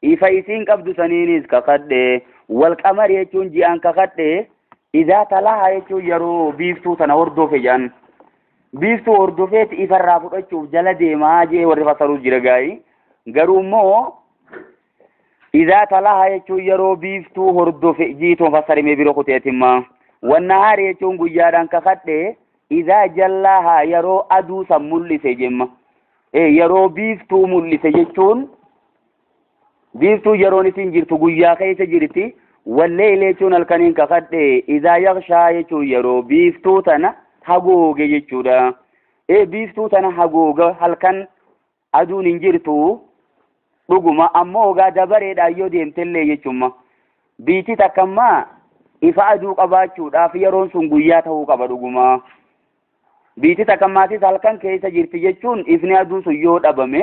Ifa isiin qabdu saniinis kakadhe. Wal qamari jechuun ji'aan kakadhe. Idaa talaha jechuun yeroo biiftuu tana hordofe jedhan. Biiftuu hordofeeti ifarraa fudhachuuf jala deemaa jee warri fassaruu jira gaa'ii. Garuu immoo idaa talaha jechuun yeroo biiftuu hordofe jiituun fassarimee biro kuteetimma. Wannahaari jechuun guyyaadhaan kakadhe. Idaa jallaaha yeroo aduu san mul'ise jemma. Yeroo biiftuu mul'ise jechuun biiftuu yeroon isin jirtu guyyaa keessa jirti walleeyli jechuun halkaniin kakadhe idaa yakshaa jechuun yeroo biiftuu tana hagooge jechuudha ee biiftuu tana hagooga halkan aduun hin jirtu dhuguma ammoo ogaa dabareedhaan yoo deemtellee jechumma biitti takkammaa ifa aduu qabaachuudhaaf yeroon sun guyyaa ta'uu qaba dhuguma biitti takkammaatis halkan keessa jirti jechuun ifni aduu sun yoo dhabame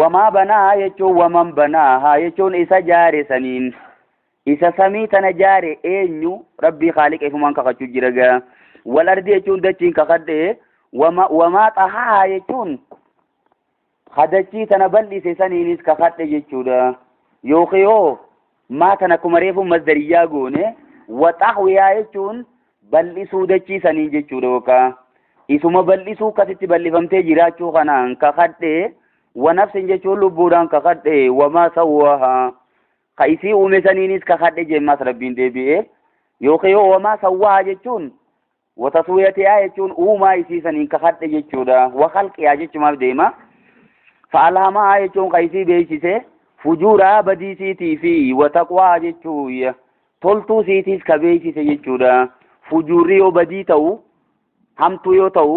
Wamaa banaahaa jechuun waman banaahaa jechuun isa jaare saniin isa samii tana jaare eenyu rabbii khaaliqa ifumaan kakachuu jira gaa wal ardi jechuun dachiin kakadhe wama wamaa xahaahaa jechuun ha dachii tana bal'ise saniinis kakadhe jechuudha yookiin hoo Maa kan akkuma reefuu masdariyyaa goone waxaxwiyaa jechuun bal'isuu dachii sanii jechuudha yookaa isuma bal'isuu kasitti bal'ifamtee jiraachuu kanaan kakadhee wanafsin jechuun lubbuudhaan kakadhee wamaa sawwaahaa ka isii uume saniinis kakadhe jeen maas rabbiin deebi'ee yookiin yoo wamaa sawwaahaa jechuun Wa taswiyatihaa jechuun uumaa isii saniin kakadhe jechuudha. Wa khalqihaa jechumaaf deema. Fa alhamahaa jechuun ka isii beeksise fujuurahaa badii siitii fi wa taqwaa jechuu toltuu siitiis ka beeksise jechuudha. Fujuurri yoo badii ta'u hamtuu yoo ta'u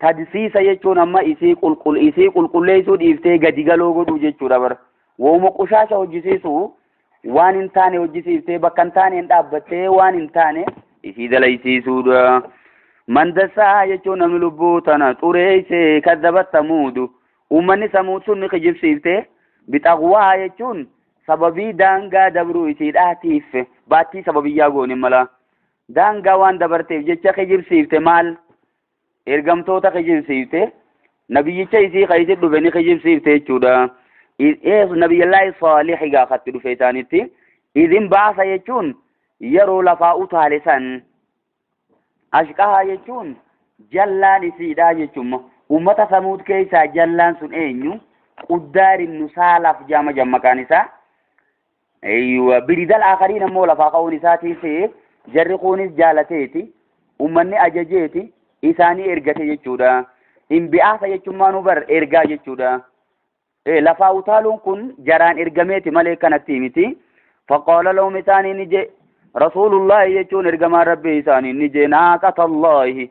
Tadsiisa jechuun amma isii qulqul isii qulqulleessuu dhiiftee gadi galoo godhuu jechuudha bara. Wooma qoshaasha hojjisiisu waan hin taane hojjisiiftee bakka hin taaneen dhaabbattee waan hin taane isii dalaysiisuudha. Mandassaa jechuun namni lubbuu tana xureeyse kaddabat samuudu. Uummanni samuud sun ni kijibsiifte. Bixaqwaa jechuun sababii daangaa dabruu isii dhaatiif baattii sababiyyaa goone mala. Daangaa waan dabarteef jecha kijibsiifte maal? ergamtoota kijibsiifte nabiyyicha isii ka isin dhufe ni kijibsiifte jechuudha nabiyyallaahi saalih egaa katti dhufe isaanitti idin baasa jechuun yeroo lafaa utaale san ashqahaa jechuun jallaan isiidhaa jechuun ummata samuud keessaa jallaan sun eenyu quddaar ibnu saalaf jaama jammaqaan isaa Eeyyuwa biridal akariin ammoo lafaa ka'uun isaatii se'e jarri kuunis jaalateeti ummanni ajajeeti isaanii ergate jechuudha. Imbi'aasa jechuun maanuu bar ergaa jechuudha. Lafaa utaaluun kun jaraan ergameeti malee kanatti miti. Faqaala lahum isaanii ni jee rasuulullaahi jechuun ergamaan rabbii isaanii ni jee naaqatallahi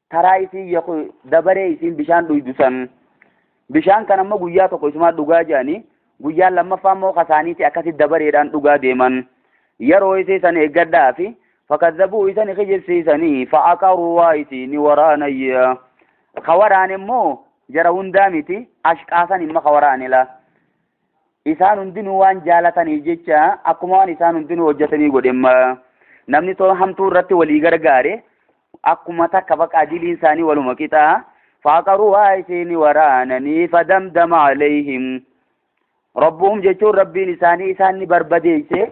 taraa isiin yaku dabaree isiin bishaan dhuydu san bishaan kan ammoo guyyaa tokko isumaa dhugaa jedhanii guyyaan lammaffaa immoo kasaaniiti akkasi dabareedhaan dhugaa deeman yeroo isii san eeggadhaa fi fakazabuu isani kijibsiisanii fa'aqaruu waa isii ni waraanayya ka waraane immoo jara hundaa miti ashqaasan imma ka waraanila isaan hundinuu waan jaalataniif jecha akkuma waan isaan hundinuu hojjetanii godhe namni too hamtuu irratti walii gargaare akkuma takka bakka adiliin isaanii waluma qixaa faaqaruuhaa isiin waraananii fadamdama alayhim rabbuhum jechuun rabbiin isaanii isaan ni barbadeeyse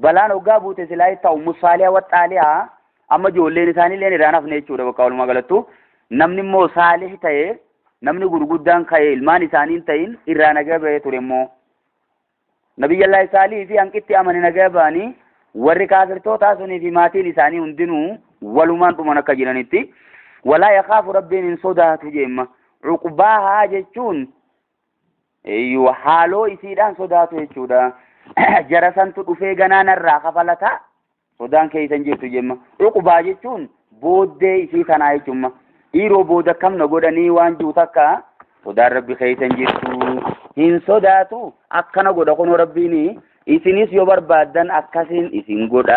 Balaan hoggaa buute silaa ittaa ummu saaliha wa xaaliha amma ijoolleen isaaniilleen irraan hafne jechuudha bakka walumaa galattu namni immoo saalih ta'e namni gurguddaan ka'e ilmaan isaaniin ta'in irraa nagaa ba'ee ture immoo nabiyyallaahi saalih fi hanqitti amane nagaa ba'anii warri kaafirtootaa sunii fi maatiin isaanii hundinuu walumaan dhuman akka jiranitti walaa yakaafu rabbiin hin sodaatu jeemma cuqbaahaa jechuun Eeyyuu haaloo isiidhaan sodaatu jechuudha. Jara santu dhufee ganaa narraa kafalataa sodaan keessan jirtu jemma. Uqubaa jechuun booddee isii tanaa jechuumma. Dhiiroo booda akkam na godhanii waan jiru takka sodaan rabbi keessan jirtu hin sodaatu akkana godha kunoo rabbiin isinis yoo barbaaddan akkasiin isin godha.